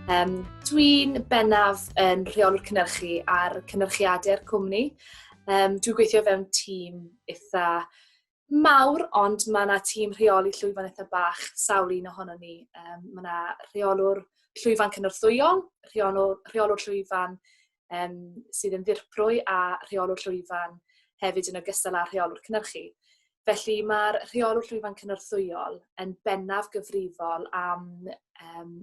Um, Dwi'n bennaf yn rheolwr cynnyrchu ar cynnyrchiadau'r cwmni. Um, dwi'n gweithio fewn tîm eitha mawr, ond mae yna tîm rheoli llwyfan eitha bach, sawl un ohono ni. Um, mae yna rheolwr llwyfan cynorthwyol, rheolwr, rheolwr llwyfan um, sydd yn ddirprwy a rheolwr llwyfan hefyd yn ogystal â rheolwr cynnyrchu. Felly mae'r rheolwr llwyfan cynorthwyol yn bennaf gyfrifol am um,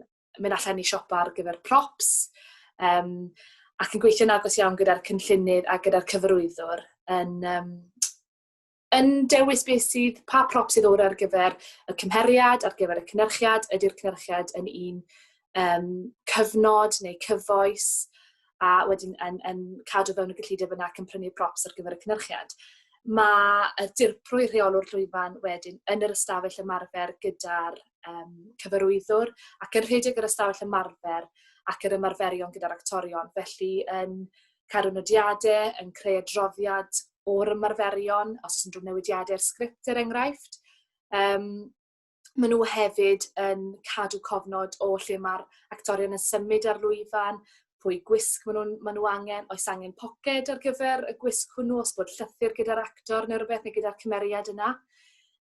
mynd allan i siopa ar gyfer props um, ac yn gweithio'n agos iawn gyda'r cynllunydd a gyda'r cyfarwyddwr yn um, yn dewis beth sydd, pa prop sydd o'r ar gyfer y cymheriad, ar gyfer y cynnyrchiad, ydy'r cynnyrchiad yn un um, cyfnod neu cyfoes, a wedyn yn, yn cadw fewn y gyllideb yna ac yn prynu props ar gyfer y cynnyrchiad. Mae y dirprwy rheolwr llwyfan wedyn yn yr ystafell ymarfer gyda'r um, cyfarwyddwr ac yn rhedeg yr ystafell ymarfer ac yr ymarferion gyda'r actorion. Felly yn um, cadw nodiadau, yn creu adroddiad o'r ymarferion, os oes unrhyw newidiadau i'r sgript er enghraifft. Um, maen nhw hefyd yn cadw cofnod o lle mae'r actorion yn symud ar lwyfan, pwy gwisg maen nhw'n maen nhw angen, oes angen poced ar gyfer y gwisg hwnnw, os bod llythyr gyda'r actor neu rhywbeth neu gyda'r cymeriad yna.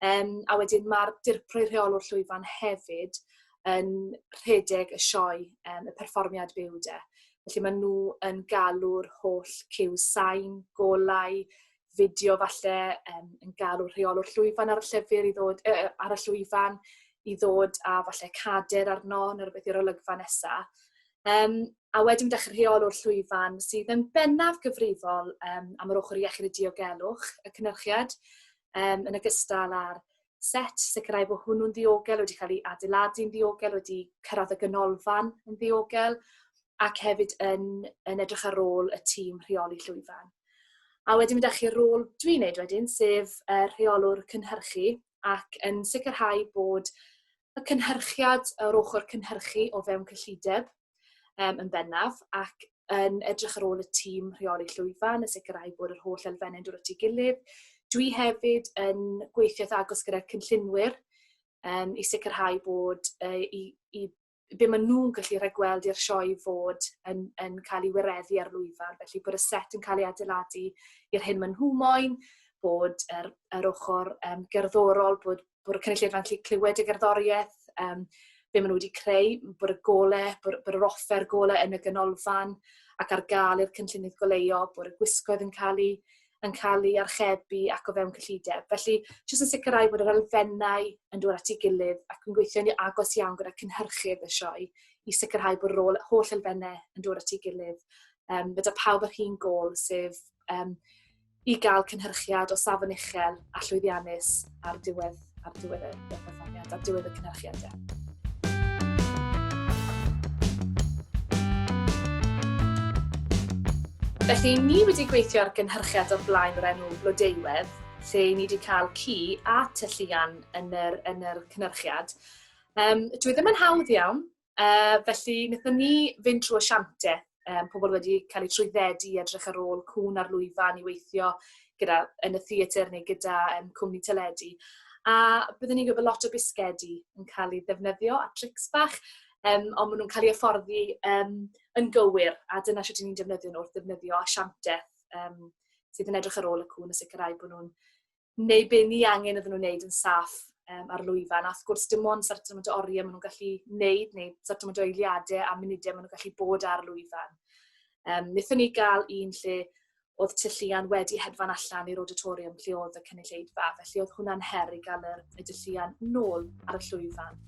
Yym a wedyn ma'r Dirprwy Rheolwr Llwyfan hefyd yn rhedeg y sioe yym y perfformiad byw 'de. Felly ma' nhw yn galw'r holl cyw sain, golau, fideo falle yym yn galw rheolwr llwyfan ar y llyfr i ddod yy yy ar y llwyfan i ddod a falle cader arno ne' rwbeth i'r olygfa nesa. Yym a wedyn ma' 'dach y rheolwr llwyfan sydd yn bennaf gyfrifol yym am yr ochor iechyd a diogelwch y cynyrchiad. yym yn ogystal â'r set, sicrhau bod hwnnw'n ddiogel, wedi cael ei adeiladu'n ddiogel, wedi cyrraedd y ganolfan yn ddiogel, ac hefyd yn, yn edrych ar ôl y tîm rheoli llwyfan. A wedyn mynd â chi'r rôl dwi'n neud wedyn, sef y rheolwr cynhyrchu, ac yn sicrhau bod y cynhyrchiad o'r ochr cynhyrchu o fewn cyllideb, um, yn bennaf ac yn edrych ar ôl y tîm rheoli llwyfan a sicrhau bod yr holl elfennau'n dod at ei gilydd. Dwi hefyd yn gweithio agos gyda'r cynllunwyr um, i sicrhau bod uh, i, i be maen nhw'n gallu rhagweld i'r sioe fod yn, yn cael ei wireddu ar lwyfan, felly bod y set yn cael ei adeiladu i'r hyn maen nhw moyn, bod yr, yr ochr um, gerddorol, bod bod y cynulleidfa'n gallu clywed y gerddoriaeth, um, be maen nhw wedi creu, bod y gole, bod, bod yr offer gole yn y ganolfan ac ar gael i'r cynllunydd goleio, bod y gwisgoedd yn cael ei, yn cael ei archebu ac o fewn cyllideb. Felly, jyst yn sicrhau bod yr elfennau yn dod at ei gilydd ac yn gweithio ni agos iawn gyda cynhyrchydd y sioe i sicrhau bod rôl holl elfennau yn dod at ei gilydd. Um, fe da pawb yr un gol, sef um, i gael cynhyrchiad o safon uchel a llwyddiannus ar diwedd, ar diwedd y perfformiad, ar diwedd y cynhyrchiad. Yeah. Felly, ni wedi gweithio ar gynhyrchiad o'r blaen o'r enw Blodeuwedd, lle ni wedi cael ci a tylluan yn yr, yn yr cynhyrchiad. Um, dwi e ddim yn hawdd iawn, Uh, felly, wnaethon ni fynd trwy asiantaeth, um, pobl wedi cael eu trwyddedu i edrych ar ôl cwn ar lwyfan i weithio gyda, yn y theatr neu gyda um, cwmni teledu. A byddwn ni'n gwybod lot o bisgedi yn cael ei ddefnyddio a trics bach, um, ond maen nhw'n cael ei afforddi um, yn gywir, a dyna sut ni'n defnyddio nhw wrth ddefnyddio asiantaeth um, sydd yn edrych ar ôl y cwn a sicrhau bod nhw'n neu be ni angen iddyn nhw wneud yn saff um, ar lwyfan. A wrth gwrs, dim ond sort of oriau maen nhw'n gallu wneud, neu sort of eiliadau a munudau maen nhw'n gallu bod ar lwyfan. Um, Nethon ni gael un lle oedd tylluan wedi hedfan allan i'r auditorium lle oedd y cynulleidfa, felly oedd hwnna'n her i gael yr, y tylluan nôl ar y llwyfan.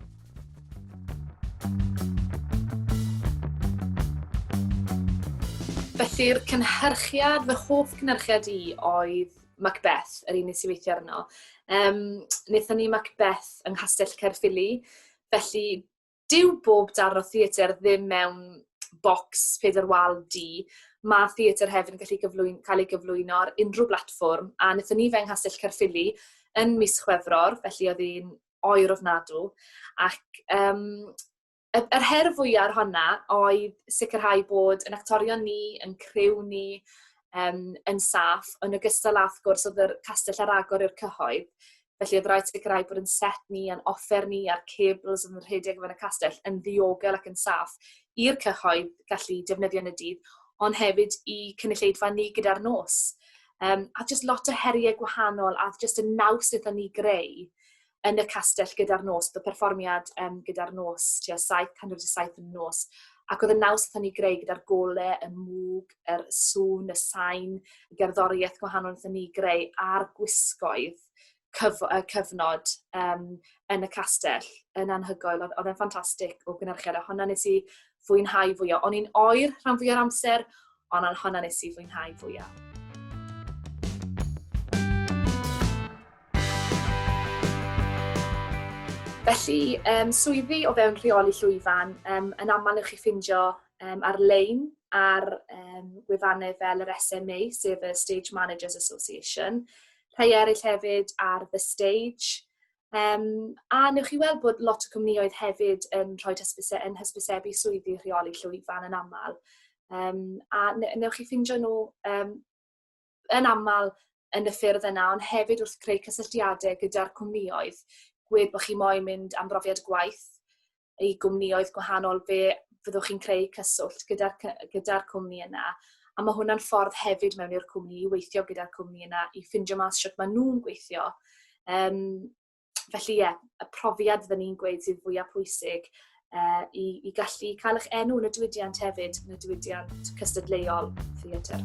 Felly'r cynhyrchiad, fy hoff cynhyrchiad i oedd Macbeth, yr un nes i weithio arno. Um, wnaethon ni Macbeth yng Nghastell Caerffili, felly dyw bob darn o theatr ddim mewn bocs peder wal di. Mae theatr hefyd yn gallu gyflwyn, cael ei gyflwyno ar unrhyw blatfform, a wnaethon ni fe yng Nghastell Caerffili yn mis Chwefror, felly oedd hi'n oer ofnadw. Ac um, y, yr her fwyaf ar honna oedd sicrhau bod yn actorion ni, yn criw ni, um, yn saff, yn ogystal â, wrth gwrs, oedd yr castell ar agor i'r cyhoedd. Felly, oedd rhaid sicrhau bod yn set ni, yn offer ni a'r cables yn rhedeg fan y castell yn ddiogel ac yn saff i'r cyhoedd gallu defnyddio yn y dydd, ond hefyd i cynulleidfa ni gyda'r nos. Um, a jyst lot o heriau gwahanol a jyst y naws wnaethon ni greu yn y castell gyda'r nos, bod y perfformiad um, gyda'r nos, tua 707 yn y nos, ac oedd y naws oedd ni greu gyda'r gole, y mwg, yr sŵn, y sain, y gerddoriaeth gwahanol oedd ni greu a'r gwisgoedd cyf y cyfnod um, yn y castell yn anhygoel. Oedd e'n ffantastig o gynhyrchiad, a hwnna nes i fwynhau fwy o. O'n i'n oer rhan fwy o'r amser, ond ar honna nes i fwynhau fwya. Felly, um, swyddi o fewn rheoli llwyfan, um, yn aml yw'ch chi ffindio um, ar-lein ar um, gwefannau fel yr SMA, sef y Stage Managers Association. Rhai eraill hefyd ar The Stage, Um, a newch chi weld bod lot o cwmnïoedd hefyd yn rhoi hysbyse, yn hysbysebu swyddi rheoli llwyfan yn aml. Um, a newch chi ffindio nhw um, yn aml yn y ffyrdd yna, ond hefyd wrth creu cysylltiadau gyda'r cwmnïoedd, gwed bod chi moyn mynd am brofiad gwaith, i gwmnïoedd gwahanol fe fyddwch chi'n creu cyswllt gyda'r cy- gyda'r cwmni yna a ma' hwnna'n ffordd hefyd mewn i'r cwmni i weithio gyda'r cwmni yna i ffindio mas shwt ma' nhw'n gweithio. Yym felly ie, y profiad fydden ni'n gweud sydd fwya pwysig yy i i gallu cael 'ych enw yn y diwydiant hefyd. diwydiant cystadleuol theatr.